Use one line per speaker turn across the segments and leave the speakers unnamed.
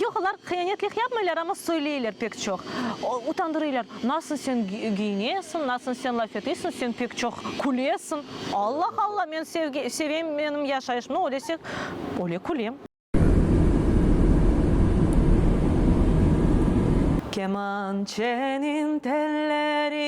Yoq, olar qıyanetlik yapmaylar, amma söyleyler pek çoq. Utandırıylar, nasıl sen giyinesiñ, nasıl sen laf etesiñ, sen pek çoq külesiñ. Allah, Allah, men sevgi, sevem, menim yaşayışımda öylese, öyle külem. Kemançeniñ telleri.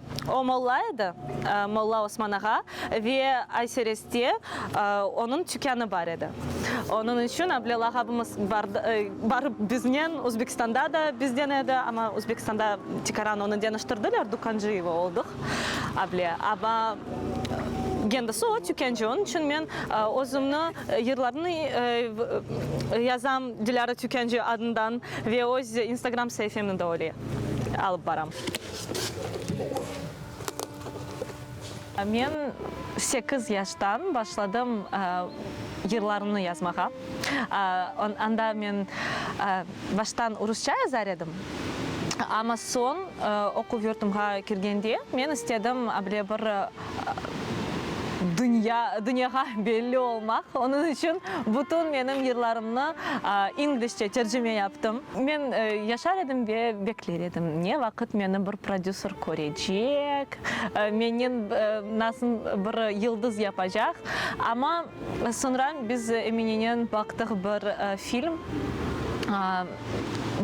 O molla edi, Molla Osman ağa, ve Aysereste onıñ tükânı bar edi. Onıñ içün Ablel ağabımız barıp biznen, Özbekistanda da bizden edi, amma Özbekistanda tikaran onı deñiştirdiler, Dukancıyeva oldıq, Able. Amma kendisi o tükânci, onıñ içün men özümni yırlarnı yazam Dilâra Tükânci adından ve öz instagram saifemni de öyle alıp baram. Men sekiz yaştan başladım yırlarımnı yazmağa. Anda men baştan rusça yazar edim, amma soñ oquv yurtumğa kirgende men istedim bile bir Dünya, dünyağa belli olmaq. Onıñ içün bütün menim yırlarımnı inglişçe tercime yaptım. Men yaşar edim ve bekler edim, ne vaqıt meni bir prodüser körecek, meni nasıl bir yıldız yapacaq. Amma soñra biz Eminenen baqtıq bir film,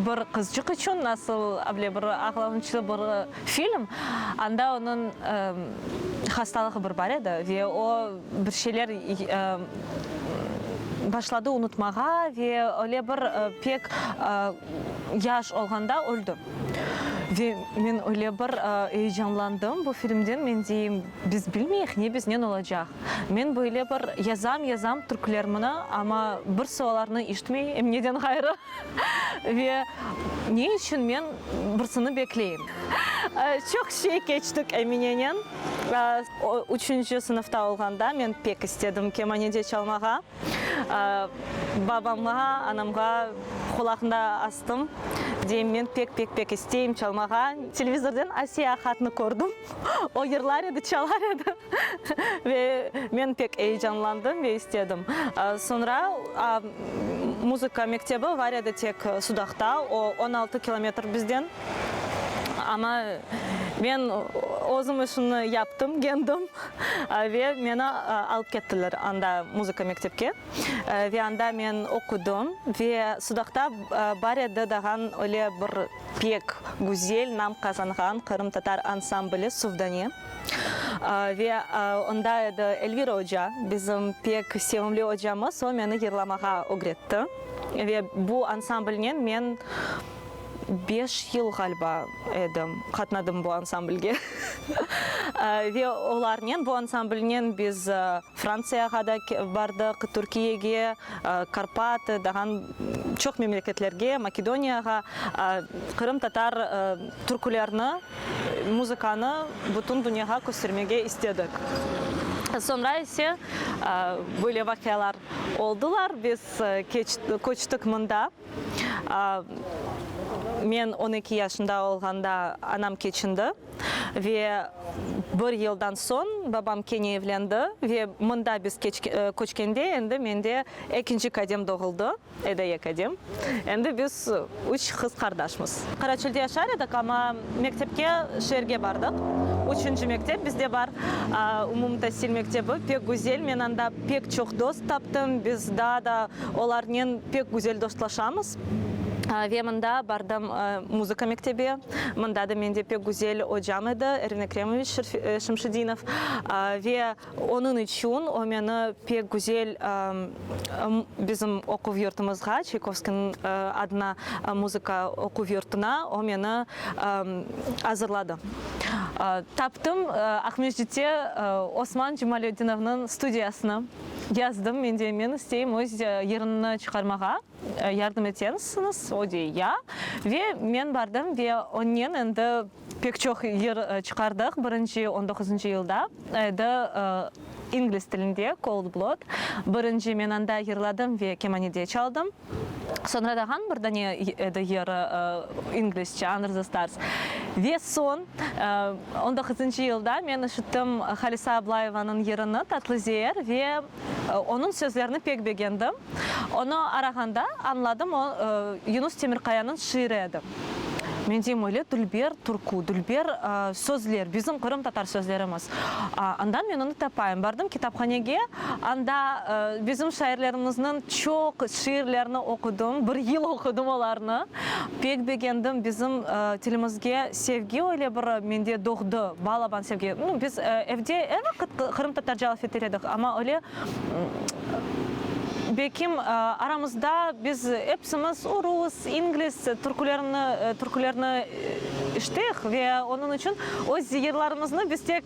bir qızcıq içün nasıl bir ağlanıçlı bir. Film, anda onıñ hastalığı bir bar edi ve o bir şeyler başladı unutmağa ve öyle bir pek yaş olğanda öldi. Ve men öyle bir eyecanlandım bu filmden, men deyim, biz bilmeyik ne biznen olacaq. Men böyle bir yazam, yazam türklermni, amma bir sualarnı eşitmey em neden ğayrı. Ve ne içün men birsini bekleyim? Çoq şey keçtik Eminenen. Üçünci sınıfta olğanda men pek istedim kemanede çalmağa. Babamğa, anamğa qulağında astım, deyim, men pek, pek, pek isteyim çalmağa. Televizordan Asiye Ahatnı kördim. O yırlar edi, çalar edi. Ve men pek eyecanlandım ve istedim. Soñra muzıka mektebi var edi tek Sudaqta, o, on altı kilometr bizden. Amma men özüm işimni yaptım, gendim ve meni alıp kettiler anda muzıka mektepke. Ve anda men oqudım ve Sudaqta bar edi dağan öyle bir pek güzel nam qazanğan qırımtatar ansambli Suvdane. Ve onda edi Elvira oca, bizim pek sevimli ocamız, o meni yırlamağa ögretti. Ve bu ansamblnen men beş yıl, ğaliba, edim, qatnadım bu ansamblge. Ve olarnen, bu ansamblnen biz Frantsiyağa da bardıq, Türkiyege, Karpat, dağan çoq memleketlerge, Makedoniyağa, qırımtatar türkülerni. Muzıkanı bütün dünyağa köstermege istedik. Soñra ise böyle vaqialar oldılar, biz köçtik mında. Men on eki yaşında olğanda anam keçindi ve bir yıldan soñ babam kene evlendi ve mında biz köçkende endi mende ekinci kadem doğuldı. Edi eki edim. Endi biz üç qız qardaşmız. Qaraçölde yaşar edik, amma mektepke şeerge bardıq. Üçünci mektep bizde bar, umumtasil mektebi, pek güzel. Men anda pek çoq dost taptım, biz daa da olarnen pek güzel dostlaşamız. Ve mında bardım muzıka mektebi. Mında da mende pek güzel ocam edi, Erin Ekremovich Şemşedinov. Ve. Onıñ içün o meni pek güzel bizim oquv yurtumızğa, Çaykovskiyniñ adına muzıka oquv yurtuna o meni azırladı. Taptım, Aqmescitte Osman Jumalödinovnıñ studiyasını. Yazdım, men deyim, men isteyim öz yırımnı çıqarmağa, yardım etesiñiz? O dey, ya. Ve men bardım ve onnen endi. Pek çoq yır çıqardıq. Birinci on doquzıncı yılda edi, ingliz tilinde, Cold Blood. Birinci men anda yırladım ve kemanede çaldım. Soñra dağan bir dane edi yır, inglizçe, Under the Stars. Ve soñ, on doquzıncı yılda men işittim Halise Ablayevanıñ yırını, Tatlı Zeer, ve Onıñ sözlerini pek begendim. Onı arağanda añladım, o, Yunus Temirkayanıñ şiiri edi. Men deyim, öyle dülber türkü, dülber sözler, bizim qırımtatar sözlerimiz. Anda men onı tapayım. Bardım kitaphanege, anda bizim şairlerimizniñ çoq şiirlerini oqudım, bir yıl oqudım olarnı. Pek begendim, bizim tilimizge sevgi öyle bir mende doğdı, balaban sevgi. Nu, biz evde er vaqıt qırımtatarca laf eter edik, amma öyle, belkim, aramızda biz epsimiz rus, inglis, türkülerni, türkülerni eşittik ve onıñ içün öz ziyerlarımıznı biz tek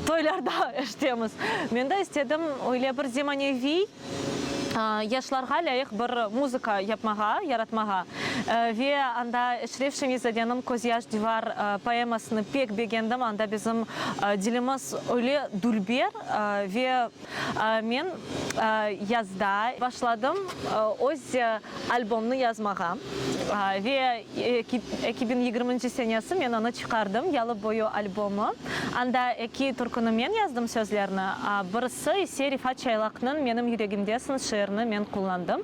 toylarda eşitemiz. Men de istedim öyle bir zemaneviy yaşlarğa lâyıq bir muzıka yapmağa, yaratmağa ve anda Eşref Şemiyzadeniñ Közyaş divar poemasını pek begendim, anda bizim dilimiz öyle dülber ve men yazda başladım öz albomnı yazmağa ve Eki biñ yigirminci senesi men onı çıqardım, Yalı boyu albomı. Anda eki türküni men yazdım sözlerni, birisi ise Refat Çaylaqnıñ Menim yüregimdesiñ şiirini men qullandım.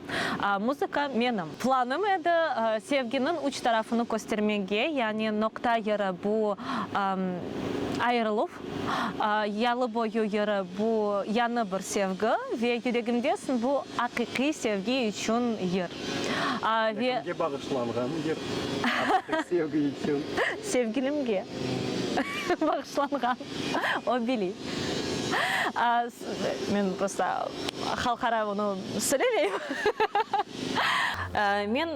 Muzıka menim. Planım edi, sevginiñ üç tarafını köstermege, yani noqta yeri bu ayırıluv. Yalı boyu yırı bu yanı bir sevgi ve yüregimdesin bu aqiqiy sevgi içün yır. Ve.
Kimge bağışlanğan yır aqiqiy sevgi içün? Sevgilimge
bağışlanğan, o biliy. Men prosta halqara onı söylemeyim. Men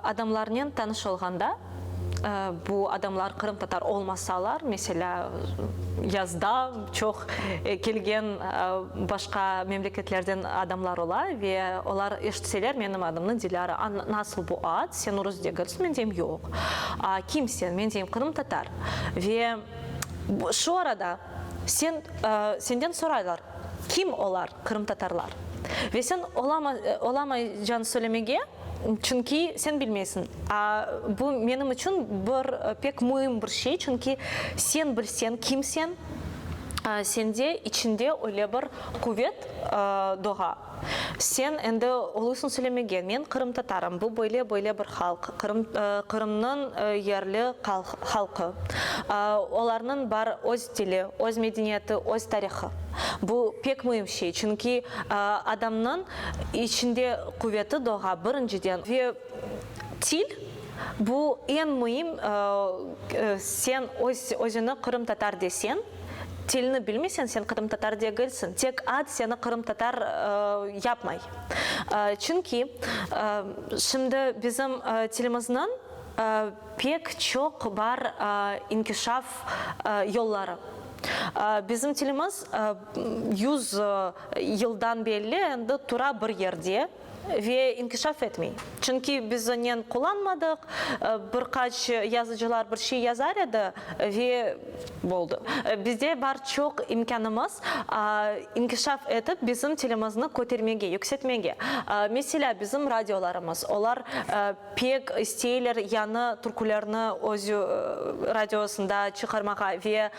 adamlarnen tanış olğanda. Bu adamlar qırımtatar olmasalar, meselâ, yazda çoq kelgen başqa memleketlerden adamlar ola ve olar eşitseler menim adımnı, Dilâra, a, nasıl bu ad, sen urus degilsiñ? Men deyim, yoq. A, kim sen? Men deyim, qırımtatar. Ve şu arada sen, senden soraylar, kim olar? Qırımtatarlar. Ve sen olama, olamay can söylemege, çünki sen bilmeysiñ. A bu menim içün bir pek müim bir şey, çünki sen bilseñ kim sen, sende içinde öyle bir quvet doğa, sen endi oluysıñ söylemege, men qırımtatarım, bu böyle, böyle bir halq, Qırım, Qırımnıñ yerli halqı, olarnıñ bar öz. Tili, öz medeniyeti, öz tarihı. Bu pek müim şey, çünki adamnıñ içinde quveti doğa, birinciden. Ve til, bu eñ müim, sen özüni qırımtatar desen, tilni bilmesen, sen qırımtatar degilsiñ, tek ad seni qırımtatar yapmay. Çünki şimdi bizim tilimizniñ. Pek çoq bar inkişaf yolları. Bizim tilimiz yüz yıldan belli endi tura bir yerde ve inkişaf etmey. Çünki biz onen qullanmadıq, bir qaç yazıcılar bir şey yazar edi ve boldı. Bizde bar çoq imkânımız inkişaf etip bizim tilimizni kötermege, yükseltmege. Meselâ, bizim radiolarımız, olar. Pek isteyler yañı türkülerni öz radiosında çıqarmağa ve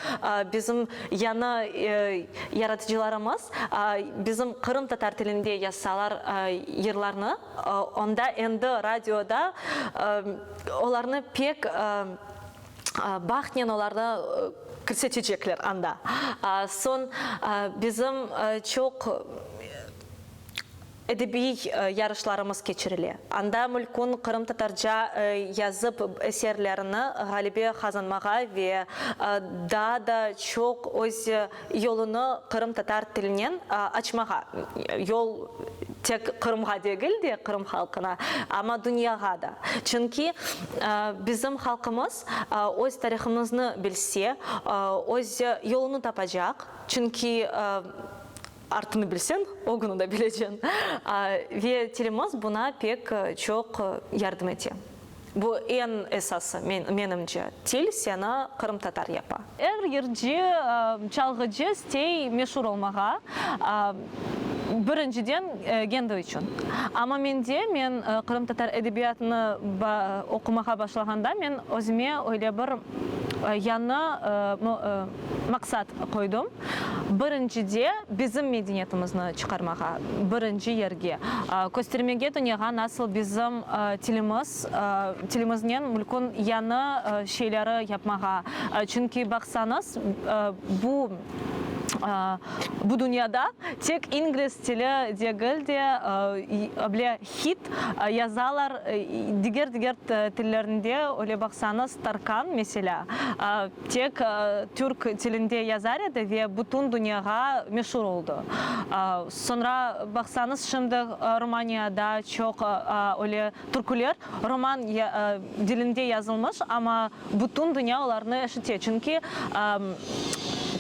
bizim yañı yaratıcılarımız bizim Qırım tatar tilinde yazsalar yırlarnı, onda endi radioda olarnı pek bahtnen olarnı kirsetecekler anda. Soñ bizim çoq Edebiy yarışlarımız keçirile. Anda Mülkün qırımtatarca yazıp eserlerini ğalebe qazanmağa ve daa da çoq öz yolunı qırımtatar tilinen açmağa, yol tek Qırımğa degil de, Qırım halqına, amma dünyağa da. Çünki bizim halqımız öz tarihımıznı bilse, öz yolunı tapacaq. Çünki Artını bilseñ, ögünü de bileceñ. Ve tilimız buna pek çoq yardım ete. Bu eñ esası, menimce, til seni qırımtatar yapa. Er yırcı, çalğıcı istey meşur olmağa, birinciden, kendi içün. Amma mende, men qırımtatar edebiyatını oqumağa başlağanda, men özüme öyle bir yañı, Maqsat qoydım, birincide bizim medeniyetimizni çıqarmağa, birinci yerge, köstermege dünyağa nasıl bizim tilimiz, tilimiznen mülkün yañı şeyleri yapmağa, çünki baqsañız bu, bu dünyada tek ingliz tili degil de, ble, Hit yazalar diger-diger tillerinde, öyle baqsañız, Tarkan, meselâ, tek türk tilinde yazar edi ve bütün dünyağa meşur oldı. Soñra baqsañız, şimdi Rumaniyada çoq öyle türküler ruman dilinde yazılmış, amma bütün dünya olarnı eşite, çünki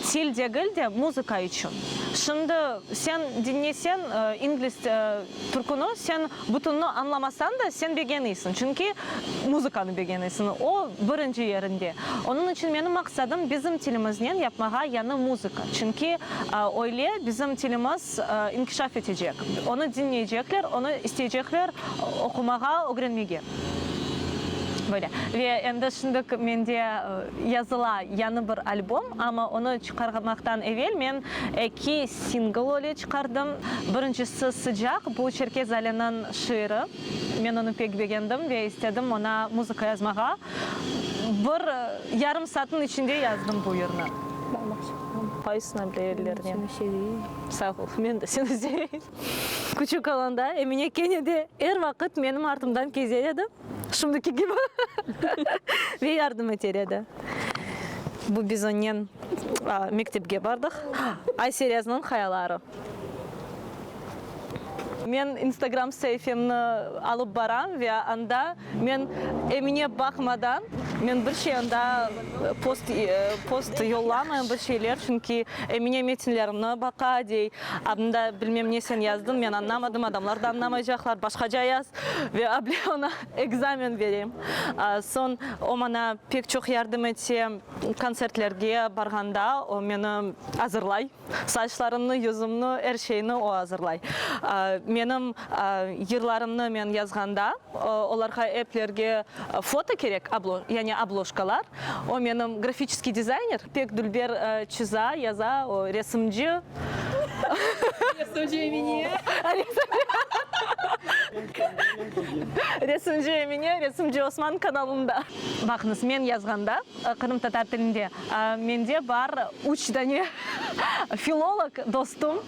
til degil de, muzıka içün. Şimdi sen diñleseñ, ingliz Türküni sen bütünini añlamasañ da, sen begeniysiñ, çünki muzıkanı begeniysiñ, o, birinci yerinde. Onıñ içün menim maqsadım bizim tilimiznen yapmağa yañı muzıka, çünki öyle bizim tilimiz inkişaf etecek, onı diñleycekler, onı isteycekler oqumağa, ögrenmege. Böyle. Ve endi şimdik mende yazıla yañı bir albom, amma onı Çıqarmaqtan evel men eki singl öyle çıqardım. Birincisi Sıcaq, bu Çerkez Aliniñ şiiri. Men onı pek begendim ve istedim oña muzıka yazmağa. Bir yarım saatniñ içinde yazdım bu yırnı. Qaysını bile yerlerine? Sağ ol, men de seni seveyim. Küçük olanda Emine kene de er vaqıt menim artımdan keze edi. Şimdiki kibi. Ve yardım eter edi. Bu biz onnen mektepke bardıq. Ayseryazmon hayaları. Men instagram saifemni alıp baram ve anda men emine baqmadan men bir şey anda post post yollamayım bir şeyler çünki emine metinlerimni baqa dey anda bilmem ne sen yazdıñ men añlamadım adamlar da añlamaycaqlar başqaca yaz Ve able oña ekzamen berem. Soñ o maña pek çoq yardım ete, kontsertlerge barğanda o meni azırlay. Saçlarımnı, yüzümni, er şeyni o azırlay. Menim yırlarımnı men yazğanda olarğa eplerge foto kerek, yani obloşkalar. O menim grafiçeskiy dizayner, pek dülber çiza, yaza, o resimci.
Resimci Emine.
Resimci Emine, resimci Osman kanalında. Baqıñız, men yazğanda qırımtatar tilinde mende bar üç dane filolog dostum.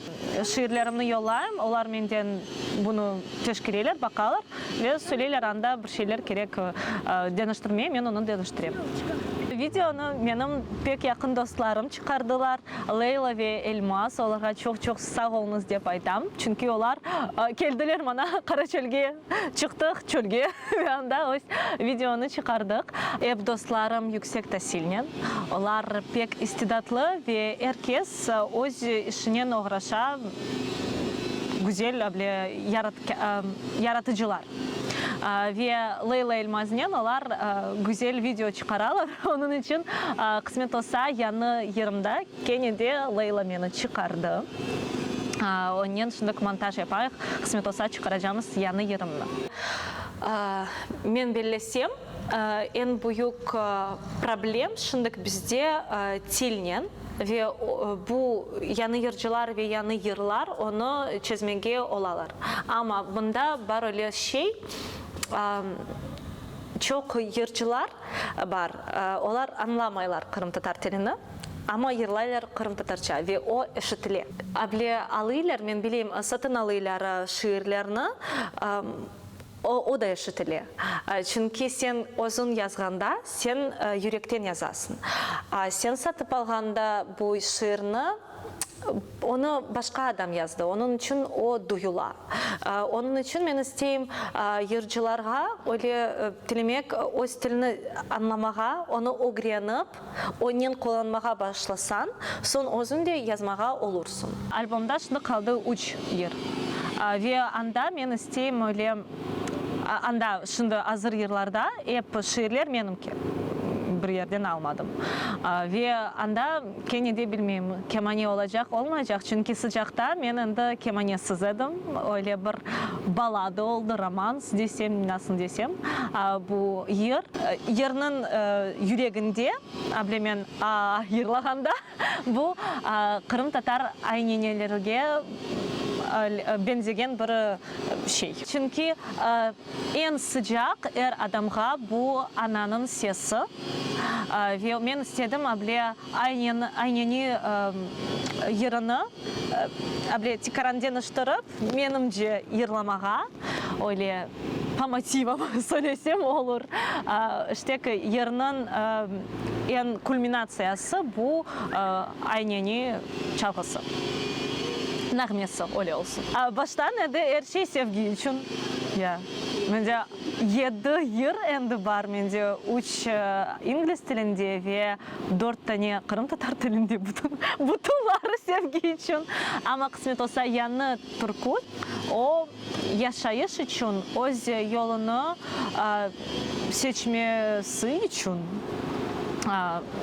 Şiirlerimni yollayım, olar menden bunı teşkeriler, baqalar ve söyleyler, anda. bir şeyler kerek deñiştirmeye, men onı deñiştirem. Videonı menim pek yaqın dostlarım çıqardılar, Leyla ve Elmaz. Olarğa çoq-çoq sağ oluñız dep aytam. Çünki olar keldiler maña, Qara çölge çıqtıq, çölge ve anda öz videonı çıqardıq. Ep dostlarım yüksek tasilnen, olar pek istidatlı ve er kes öz işinen oğraşa, güzel, böyle, yaratıcılar. Ve Leyla Elmaznen olar güzel video çıqaralar. Onıñ içün, qısmet olsa, yañı yırımda kene de Leyla meni çıqardı. Onnen şındık montaj yapayıq, qısmet olsa, çıqaracamız yañı yırımnı. Men bellesem, eñ büyük problem şındık bizde tilnen. Ve bu yañı yırcılar ve yañı yırlar onı çezmege olalar. Amma bunda bar öyle şey, çoq yırcılar bar, olar añlamaylar qırımtatar tilini, amma yırlaylar qırımtatarça ve o eşitile. Able alıylar, men bileyim, satın alıylar şiirlerni. O da eşitile. Çünki sen özüñ yazğanda, sen yürekten yazasıñ. Sen satıp alğanda bu şiirni, onı başqa adam yazdı, onıñ içün o duyula. Onıñ içün men isteyim yırcılarğa öyle tilemek, öz tilini añlamağa, onı ögrenip, Onnen qullanmağa başlasañ, soñ özüñ de yazmağa olursıñ. Albomda şimdi qaldı üç yır. Ve anda men isteyim öyle, anda şimdi azır yırlarda ep şiirler menimki, bir yerden almadım. Ve anda kene de bilmeyim, kemane olacaq, olmaycaq, çünki sıcaqta men endi kemanesiz edim, öyle bir balada oldı, romans. Desem, nasıl desem, bu yır, yırnıñ yüreginde, ablemen aa yırlağanda, bu qırımtatar aynenelerge beñzegen bir şey. Çünki eñ sıcaq er adamğa bu ananıñ sesi. Ve men istedim, able Aynen ayneni yırını böyle tikaran deñiştirip, menimce yırlamağa, öyle po motivam söylesem olur. İşte ki, yırnıñ eñ kulminatsiyası bu ayneni çalğısı, nağmesi, öyle olsun. Baştan edi er şey sevgi içün. Ya, mende yedi yır endi bar, mende üç ingliz tilinde ve Dört tane qırımtatar tilinde bütün, butunları sevgi içün, amma qısmet olsa yañı türkül, o, yaşayış içün, öz yolunı seçmesi içün,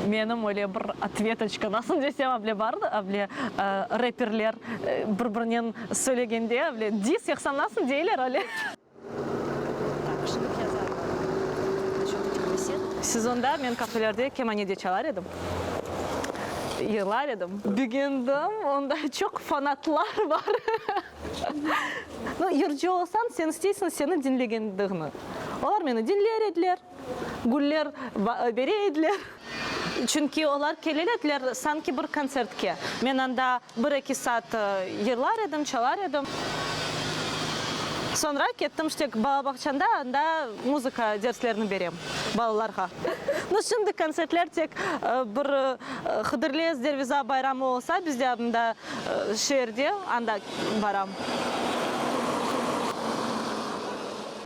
menim öyle bir otvetocka, nasıl desem, avle bar, avle reperler bir-birinen söylegende, avle, dis, yoqsa nasıl deyler, öyle. Sezonda men kafelerde kemane de çalar edim, yırlar edim. Begendim, onda çoq fanatlar bar. Yırcı olsañ, señ isteysiñ seni diñlegendiğni. Olar meni diñler ediler. Güller bere ediler. Çünki olar kelir ediler sanki bir kontsertke. Men anda bir-eki saat yırlar edim, çalar edim. Soñra kettim ştek balabağçanda, anda muzıka derslerini berem balalarğa. No şimdi kontsertler tek bir Hıdırlez Derviza bayramı olsa bizde anda şeerde, anda baram.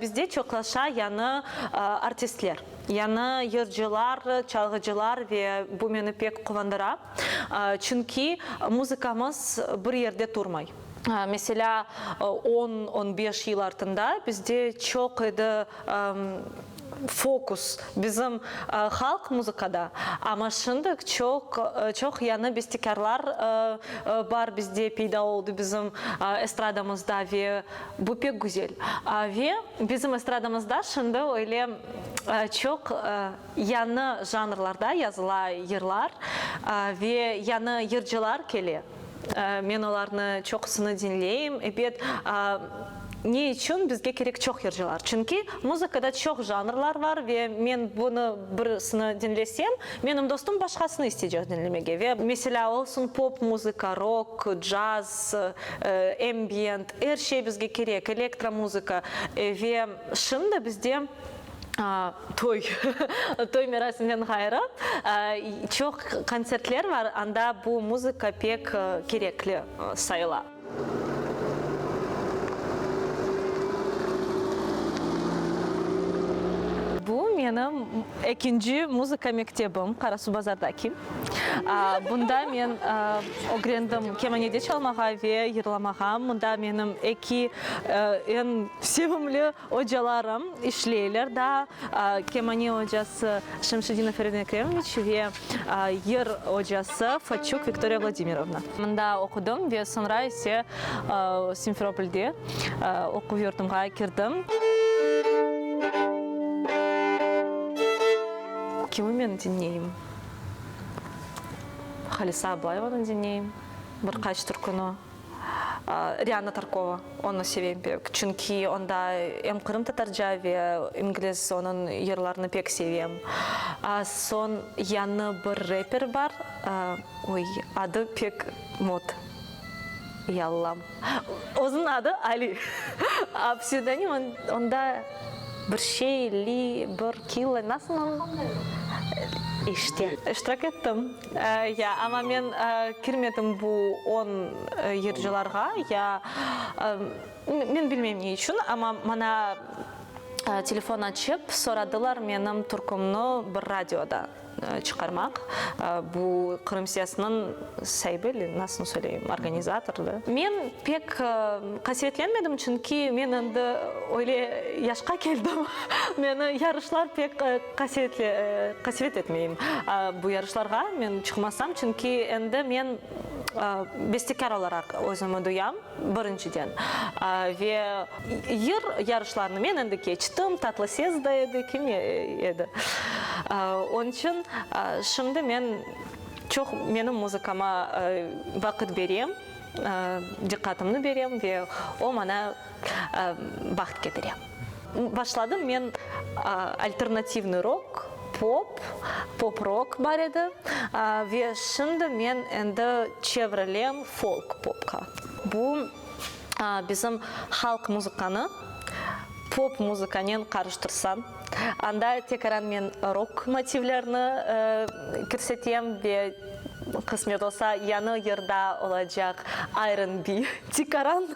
Bizde çoqlaşa yañı artistler, yañı yırcılar, çalğıcılar ve bu meni pek quvandıra. Çünki muzıkamız bir yerde turmay. Meselâ, on, on beş yıl artında bizde çoq edi fokus bizim halq muzıkada, amma şimdik çoq, çoq yañı bestekârlar bar bizde, peyda oldı bizim estradamızda ve Bu pek güzel. Ve bizim estradamızda şimdi öyle çoq yañı janrlarda yazıla yırlar ve yañı yırcılar kele. Men olarnı çoqusını diñleyim. Ebet, ne içün bizge kerek çoq yırcılar? Çünki muzıkada çoq janrlar bar ve men bunı birisini diñlesem, menim dostum başqasını isteycek diñlemege. Ve meselâ, olsun pop muzıka, rok, caz, Ambient, er şey bizge kerek, elektromuzıka ve şimdi bizde toy, toy merasimden ğayrı çoq kontsertler bar, anda bu muzıka pek kerekli sayıla. Bu menim ekinci muzıka mektebim, Qarasuvbazardaki. Bunda men. Ögrendim kemanede çalmağa ve yırlamağa. Mında menim eki eñ sevimli ocalarım işleyler daa, kemane ocası Şemşedinov Erin Ekremoviç ve yır ocası Façuk Viktoriya Vladimirovna. Mında oqudım ve soñra ise Simferopolde oquv yurdumğa kirdim. Kimı men diñleyim? Halisa Ablayevanı diñleyim bir qaç türküni. Rianna Tarkova, onı sevem pek, çünki onda em qırımtatarca ve ingliz onıñ yırlarını pek sevem. Soñ yañı bir reper bar, oy, adı pek mot, yallam. Özüniñ adı Ali, a psevdonim onda bir şey, Li, bir Killa, nasıl mı? İşte. İştirak ettim, ya, amma men kirmedim bu on yırcılarğa, ya, men bilmeyim ne içün, amma maña telefon açıp soradılar menim türkümni bir radioda. çıqarmaq, bu Qırım siyasınıñ saibi ili, nasıl söyleyim, organizator da. Men pek qasevetlenmedim, çünki men endi öyle yaşqa keldim, meni yarışlar pek qasevet etmeyim. Bu yarışlarğa men çıqmasam, çünki endi men bestekâr olaraq özümi duyam. Birinciden, ve yır yarışlarını men endi keçtim, tatlı ses da edi, kim edi. Onıñ içün şimdi men çoq menim muzıkama vaqıt berem, diqqatımnı berem ve o, maña baht ketire. Başladım men alternativnıy rok, pop, pop-rok bar edi, ve şimdi men endi çevrelem folk-popqa. Bu bizim halq muzıkanı pop muzıkanen qarıştırsañ, anda tekaran men rok motivlerni kirsetem ve qısmet olsa, yañı yırda olacaq Iron Be tikaran.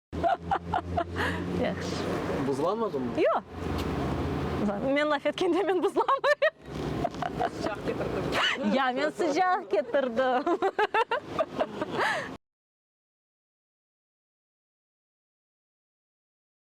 Yahşı. Buzlanmadımı? Yoq.
Men laf etkende men buzlanmayım. Sıcaq ketirdim.
Ya, men
sıcaq ketirdim.